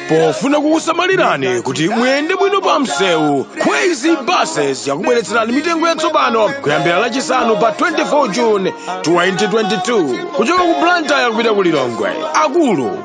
pofuna kukusamalirani kuti muyende bwino pa msewu kwezy buses yakubweretserani mitengo yatsopano kuyambira lachisanu pa 24 june 2022 kuchoka ku blantyre kupita ku lilongwe akulu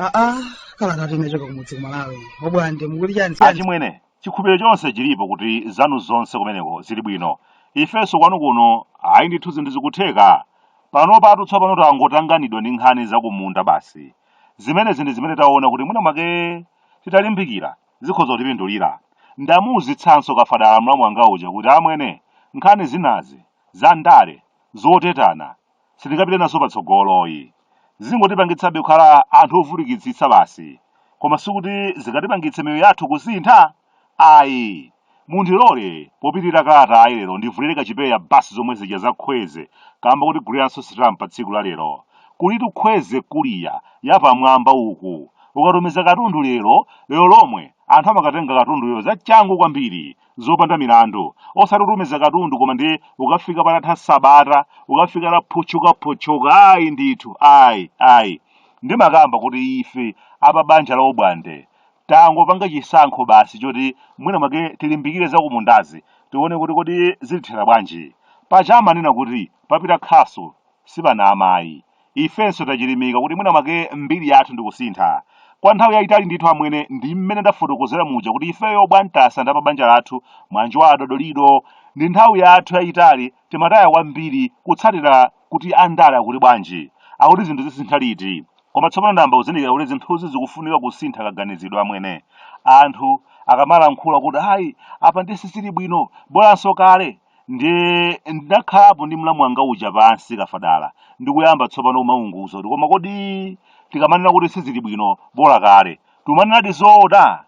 aa kalata inachoka kumudzi kumalawi obwande mukuti chani achimwene chikhulupiriro chonse chilipo kuti zanu zonse kumeneko zili bwino ifenso kwanu kuno ayi ndithu zinthu zikutheka panopatu tsopano tangotanganidwa ndi nkhani zakumunda basi zimenezi ndi zimene taona kuti mwina mwake titalimbikira zikhoza kutipindulira ndamuuzitsanso kafadala mlamu wanga uja kuti amwene nkhani zinazi za ndale zotetana sitingapite nazo patsogoloyi zingotipangitsabe kukhala anthu ovutikitsitsa basi koma sikuti zingatipangitse miyoyo yathu kusintha Ayi. Mundilole, popitira kalatayi lero ndivulire kachipewa basi zomwe zija za Kwezy kamba kotiguliranso stamp pa tsiku la lero. Kulitu Kwezy courier yapamwamba uku. Ukatumiza katundu lero, lero lomwe, anthu amakatenga katunduyo za changu kwambiri, zopanda milandu. Osati kutumiza katundu koma ndiye ukafika patatha sabata, ukafika ataphotchokaphotchoka, ayi ndithu, ayi, ayi. Ndimakamba kuti ife a pa banja la Obwande, tangopanga chisankho basi choti mwina mwake tilimbikire zakumundazi tione kuti kodi zitithera bwanji paja amanena kuti papita khasu sipanama ayi ifenso tachilimika kuti mwina mwake mbiri yathu ndikusintha kwa nthawi yayitali ndithu amwene ndi mmene ndafotokozera muja kuti ifeyo bwantasa ndi apabanja lathu mwanji wa adodolido ndi nthawi yathu yayitali timataya kwambiri kutsatira kuti andale akuti bwanji, akuti zinthu zisintha liti. Koma tsopano ndayamba kuzindikira kuti zinthuzi zikufunika kusintha kaganizidwe amwene. Anthu akamalankhula kuti ayi apa ndiye sizili bwino, bolanso kale, ndiye ndinakhalapo ndi mlamu wanga uja pansi Kafadala ndi kuyamba tsopano kumaunguza kuti koma kodi tikamanena kuti sizili bwino bola kale, tikumanenadi zoona?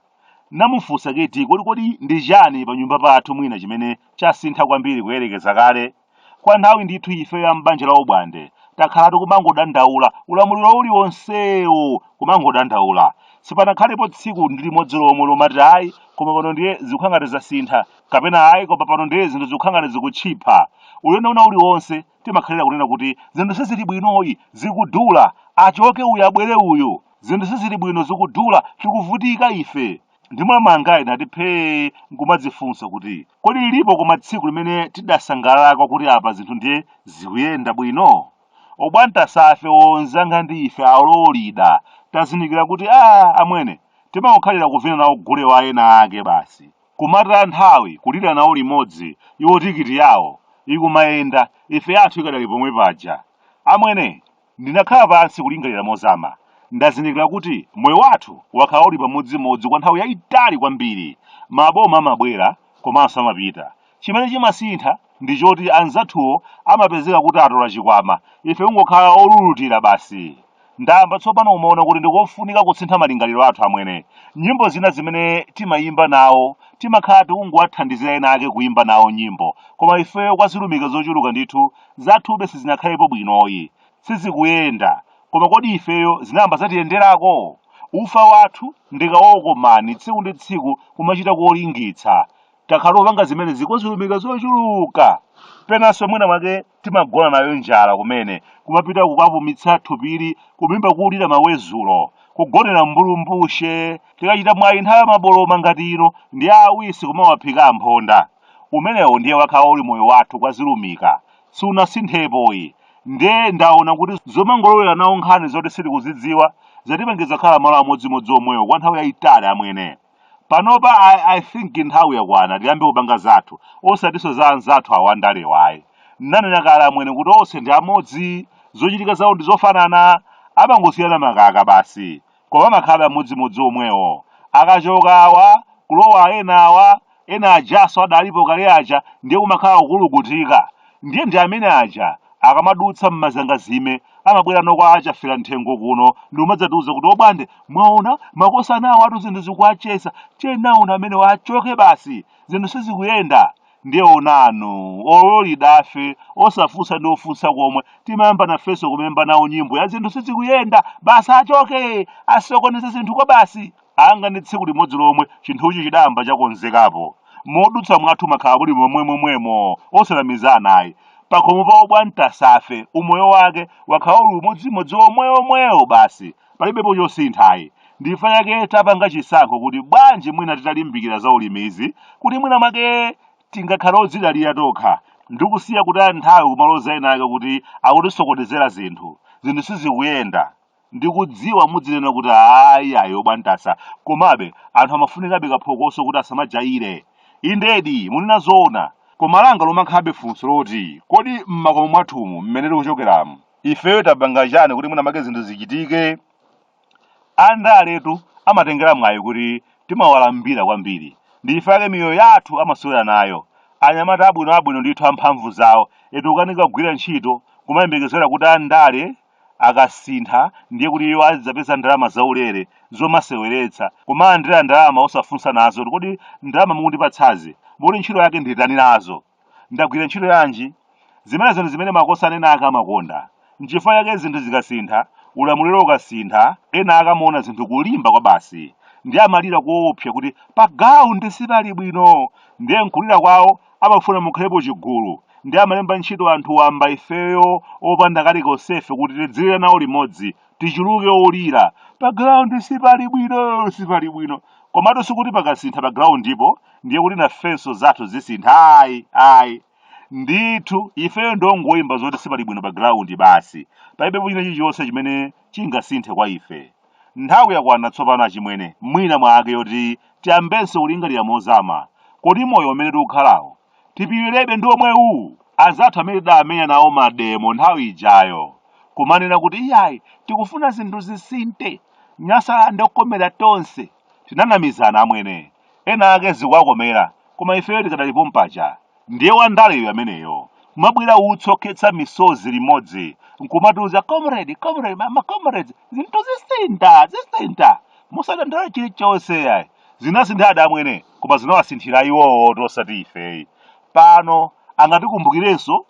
Ndinamufunsa kuti kodi kodi ndi chani panyumba pathu mwina chimene chasintha kwambiri kuyerekeza kale? Kwa nthawi ndithu ifeyo a m'banja la Obwande takhala tikumangodandaula, ulamuliro uliwonsewo kumangodandaula. Sipanakhalepo tsiku ndi limodzi lomwe lomati ayi koma pano ndiye zikukhala ngati zasintha kapena ayi koma pano ndiye zinthu zikukhala ngati zikutchipha. Ulendo wina uliwonse timakhalira kunena kuti zinthu sizili bwinoyi, zikudula, achoke uyu abwere uyu, zinthu sizili bwino zikudula, tikuvutika ife. ndimangayi ndati phee nkumadzifunsa kuti kodi lilipo koma tsiku limene tidasangalalako kuti apa zinthu ndiye zikuyenda bwino obwantasafe onzanga ndi ife ololida tazindikira kuti a amwene timangokhalira kuvina nawo gule wa ena ake basi kumata nthawi kulira nawo limodzi iwo tikiti yawo ikumayenda ife yathu ikadali pomwe paja amwene Ndinakhala pansi kulingalira mozama. Ndazindikira kuti moyo wathu wakhala uli pamodzimodzi kwa nthawi yaitali kwambiri. Maboma amabwera komanso amapita. Chimene chimasintha ndi choti anzathuwo amapezeka kuti atola chikwama, ife kungokhala olulutira basi. Ndayamba tsopano kumaona kuti ndi kofunika kusintha malingaliro athu amwene. Nyimbo zina zimene timayimba nawo timakhala tikungowathandizira ena ake kuyimba nawo nyimbo, koma ifeyo kwa zilumika zochuluka ndithu Zathube sizinakhalepo bwinoyi. Sizikuyenda. Koma kodi ifeyo zinayamba zatiyenderako? Ufa wathu ndi kawokomani tsiku ndi tsiku kumachita kuolingitsa. Takhala tikupanga zimenezi kwa zilumika zochuluka. Penanso mwina mwake timagona nayo njala kumene, kumapita kukapumitsa thupiri kumimba kulira mawezulo, kugonera mbulu mbushe. Tikachita mwayi nthawi ya maboloma ngati ino ndi awisi kumawaphika amphonda. umenewo ndiye wakhala uli moyo wathu kwa zilumika siunasinthepoyi nde ndaona kuti zomangolowera nawo nkhani zoti sitikuzidziwa zatipangitsa kukhala malo amodzimodzi omwewo kwa nthawi yayitali amwene panopa I, i think nthawi yakwana tiyambe kupanga zathu osatiso za anzathu awa andalewayi nanena kale amwene kuti onse ndi amodzi zochitika zawo ndi zofanana amangosiyana makaka basi koma amakhalabe amodzimodzi omwewo akachoka awa kulowa ena awa ena ajaso adalipo kale aja ndiye kumakhala kukulukutika ndiye ndi amene aja akamadutsa m'mazangazime amabwera nokwa achafera m'thengo kuno ndikumadzatiuza kuti obwande mwaona makosana awo atu zinthu zikuwacheza chenauna amene wachoke basi zinthu sizikuyenda Ndiye onanu, ololidafe, osafunsa ndi ofunsa komwe, timayamba nafenso kumayimba nawo nyimbo ya zinthu sizikuyenda, basi achoke, asokoneza zinthu kwabasi. Nanga ndi tsiku limodzi lomwe chinthuchi chidayamba chakonzekapo. Modusa mwathu makhala muli momwemomwemo, osanamizana ayi. Pakhomo pa obwanta safe, umoyo wake wakhala uli umodzimodzi omwewomwewo basi. palibepo chosintha ayi ndifa yake tapanga chisankho kuti bwanji mwina titalimbikira za ulimi izi kuti mwina mwake tingakhale odzidalira tokha ndikusiya kutaya nthawi kumaloza ena ake kuti akutisokonezera zinthu zinthu sizikuyenda ndikudziwa mudzinena kuti ayi ayi obwantasa komabe anthu amafunikabe kaphokoso kuti asamajayire indedi munena zoona koma langa lomakhalabe funso loti kodi m'makomo mwathumu mmene tikuchokeramu ifeyo tapanga chani kuti mwina make zinthu zichitike andaletu amatengera mwayi kuti timawalambira kwambiri ndi ife ake miyoyo yathu amasewera nayo anyamata abwino abwino ndithu amphamvu zawo eti kukanika kugwira ntchito kumayembekezera kuti andale akasintha ndiye kuti iwo adzapeza ndalama zaulere zomaseweretsa kumalandira ndalama osafunsa nazo kodi ndalama mukundipatsazi mukuti ntchito yake nditani nazo Ndagwira ntchito yanji? Zimenezi ndi zimene makosana ena ake amakonda. N'chifukwa chake zinthu zikasintha, ulamuliro ukasintha, ena akamaona zinthu kulimba kwa basi, ndiye amalira koopsa kuti pagrawundi sipali bwino! Ndiye m'kulira kwawo amafuna mukhalepo chigulu, ndiye amalemba ntchito anthu wamba ifeyo opanda kalikonsefe kuti tidzilira nawo limodzi tichuluke olira pa ground sipali bwino sipali bwino komatu sikuti pakasintha pa groundipo ndiye kuti nafenso zathu zisintha ayi ayi ndithu ifeyo ndongoyimba zoti sipali bwino pa ground basi palibepo china chilichonse chimene chingasinthe kwa ife nthawi yakwana tsopano achimwene mwina mwake yoti tiyambenso kulingalira mozama kodi moyo umene tikukhalawo Tipilirebe ndi omwewu anzathu amene tidamenya nawo mademo nthawi ijayo kumanena kuti iyayi tikufuna zinthu zisinthe Nyasaland yokomera tonse. Tinanamizana amwene. Ena ake zikuwakomera koma ifeyo tikadali pompaja. Ndiye wandaleyo ameneyo. Kumabwira utsi okhetsa misozi limodzi nkumatiuza comrade, comrade, ma comrades zinthu zisintha, zisintha. Musadandaule chilichonse ayi. Zinasinthadi amwene, koma zinawasinthira iwowotu osati ife ayi. Pano angatikumbukirenso?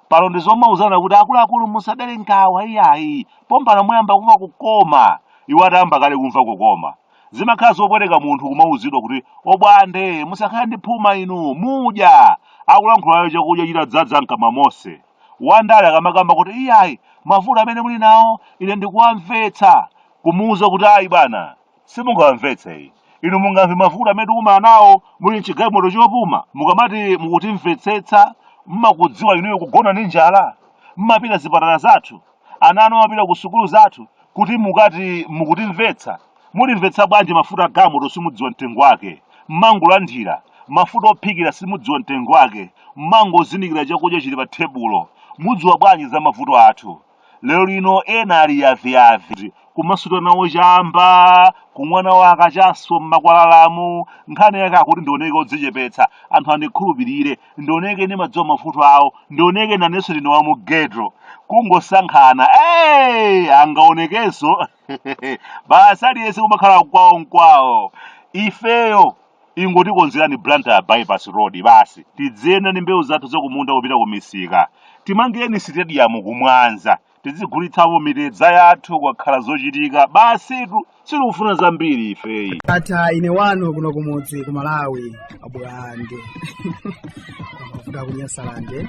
Pano ndi zomauzana kuti akuluakulu musadere nkawa iyayi, pompano muyamba kumva kukoma. Iwo atayamba kale kumva kukoma. Zimakhala zopweteka munthu kumauzidwa kuti obwande musakhale ndi phuma inu, mudya! Akulankhulayo chakudya chitadzadza mkamwa monse. Wandale akamakamba kuti iyayi, mavuto amene muli nawo ine ndikuwamvetsa, kumuuza kuti ayi bwana! simungawamvetse ayi inu mungamve mavuto amene tikumana nawo muli mchigalimoto chopuma mukamati mukutimvetsetsa mmakudziwa inuyo kugona ndi njala mmapita zipatala zathu ana anu amapita ku sukulu zathu kuti mukati mukutimvetsa mutimvetsa bwanji mafuta agalimoto simudziwa mtengo wake mmangolandira mafuta ophikira simudziwa mtengo wake mmangozindikira chakudya chili pa thebulo mudziwa bwanji za mavuto athu lero lino ena ali yaviyavi kumasuta nawo chamba kumwa nawo akachaso m'makwalalamu nkhani yake akuti ndioneke odzichepetsa anthu andikhulupirire ndioneke ndimadziwa mavuto awo ndioneke nanenso ndine wa mu ghetto kungosankhana hey! angaonekenso basi aliyense kumakhala kwawo nkwawo ifeyo ingotikonzerani blantyre bypass road basi tidziyenda ndi mbewu zathu zakumunda kupita ku misika timangireni sitediyamu ku mwanza tizigulitsamo mitedza yathu kukakhala zochitika basitu sitikufuna zambiri ifeyo ata ine wanu kuno kumudzi ku malawi abwande kuda kunyasalande